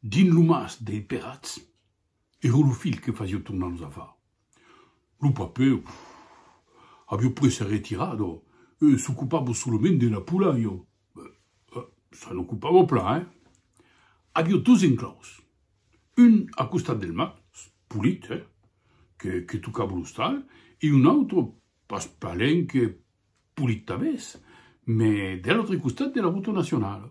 Dins lo mas dei Perats, ero lo filh que fasiò tornar los afar. Lo papèu aviò pres se retirar do e s'ocupava solament de la pola, jo se n'ocupava plan, eh! Aviò dos enclaus, un a costat del mas, polit, eh, que tocava l'ostal, e un autre pas palenque polit tanben, mès de l'autre costat de la rota nacionala.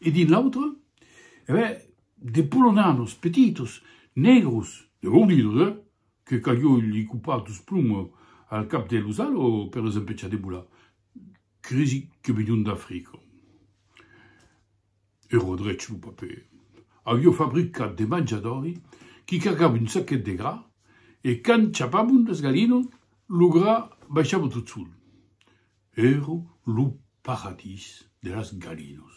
e dins l'autre, e ben, de polonanos petitos, negros, de gordidos, eh! que calió li copar dos ploms al cap de los alos per los empechar de bolar, crisi que venión d'Africa. E Rodrech, lo papèr, avió fabricat de manjadori qui cargava un saquet de gra e quand chapavon las galinos, lo gra baishava tot sol. Ero lo paradís de las galinos.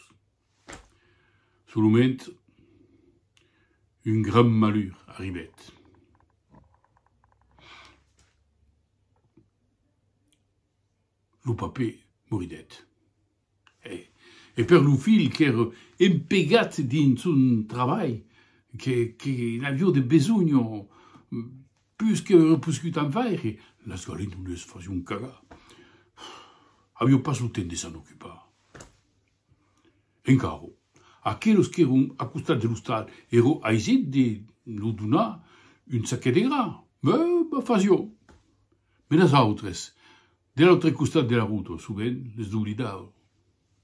Solament un gran malur arribèt. Lo papè moridèt. E per lo filh qu'ère empegat dins son trabalh, que n'avió de besonh, Pus que auré poscut en faire, las galindoles fasión cagar. Avió pas lo temps de s'en ocupar. Encara, aquelos qu'èron a costat de l'ostal èro aisit de lo donar un saquet de gra, me fasió. Menas autres, de l'autre costat de la ruta, sovent les doblidava.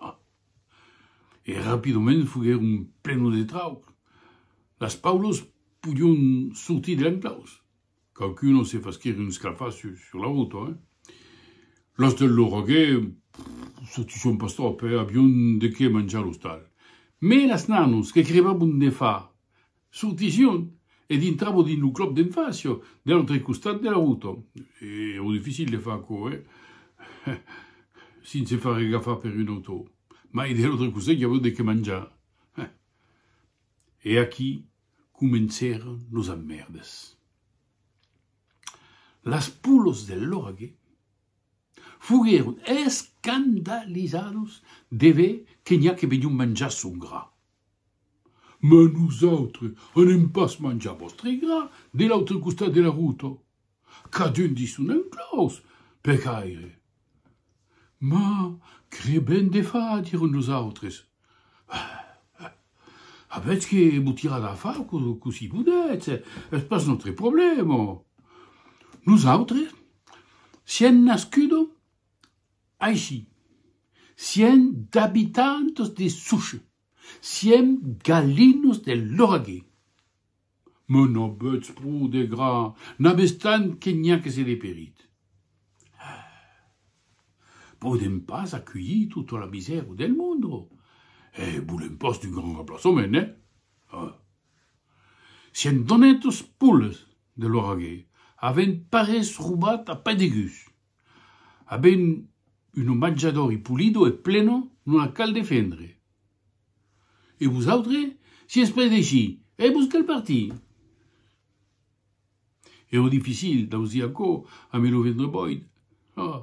Ah! E rapidament foguèron plenos de trauc. Las paulos podion sortir dempeus. Quauqu'uno se faschèri un scafà sur la rota, eh? Los del Lorogè sortisson pas tròp, eh? Avion de qué manjar l'ostal. Mès las nanos que crevavon de far Sortissión e dintravo dins lo club d'enfància de l'autre costat de la ruta. Èra dificil de far aquò, eh? Sinse far regafar per un autor. Mai de l'autre costat i aviá de qué manjar, eh? E aquí comencèran los emmèrdes. Las pulhas de l'orague foguèron escandalizados de ver que n'i a que venión manjar son gra. Mas nosautres anem pas manjar vòstre gra de l'autre costat de la ruta. Cadun dins son enclòs, per caire. Mas que ben de fa, dieron los autres. Eh! eh! avètz que vos tirar la fa cossí podètz, es pas nòstre problèma. Nosautres siem nascudos Aicí, siem d'abitantos de Souche, siem galinos de Lauragais. Mès n'avètz pro de gra, n'avètz tant que n'i a que se deperit. Hè! Podèm pas aculhir tota la misèra del monde e volèm pas d'un grand remplaçament, ne? Hè! Siem d'onetos poles de Lauragais, avèm parés robat a pè de gus. A ben un omatjador i pulido e pleno non la cal defendre. E vosautre, si es pres d'aicí, e vos cal partir! E lo dificil d'ausir aquò amé lo ventre boid, ah!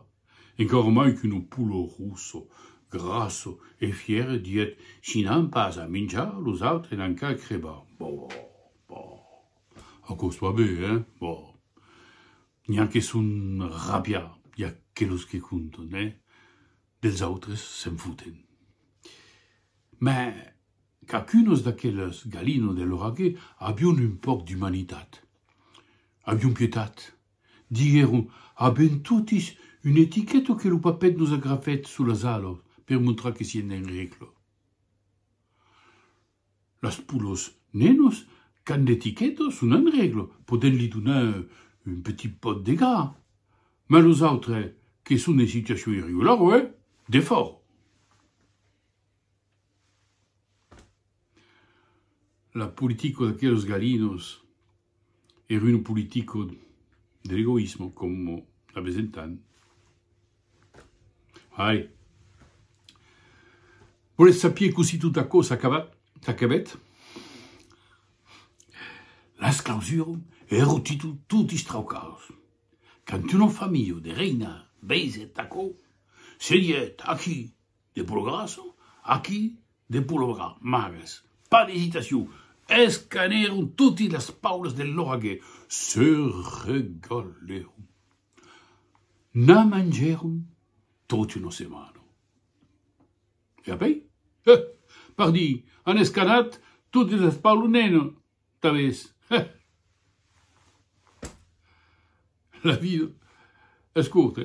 Encara mai que no pulo russo, grasso e fière dièt, si n'an pas a minjar, los autres n'an qu'a crebar. Boh! Boh! Aquò soi bé, hein? Boh! N'i a que son rabiar i aquelos que conton, eh? Dels autres se'n foten. Mè qu'acunos d'aqueles galinos de l'oraguer avion un pòc d'umanitat. Avion pietat. Diguèron a ben totis un etiqueto que lo papet nos agrafèt sus las alos per montrar que sien d'en règla. Las poulos nenos qu'an d'etiqueta son en règla, podèm li donar un petit pòt de gas, mas los autres que son en situacion irregulara, eh! De fòra! La politica d'aqueles galinos. er un politico de l'egoismo como la besentan. Ai. Voletz sapier cossí tot aquò s'acabèt? S'acabèt? Las clausuram e ero títol tot istraucaus. Quand un enfant miu de reinar veisèt aquò, se dièt, Aquí! De progresso, aquí de pologa, màges, pas d'esitacion, escanèron toti las paulas de l'òrgue, se regalèron, na mangèron toti una setmana. E apèi? He! Pardi, an escanat toti las paulas nena, tanbés. He! La vida es corta,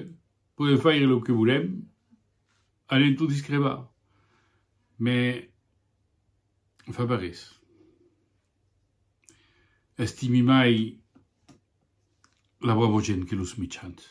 podèm faire lo que volèm. Allen tot discrepar, me fa pas res. Estimi mai la Bravo Gent que los Michans.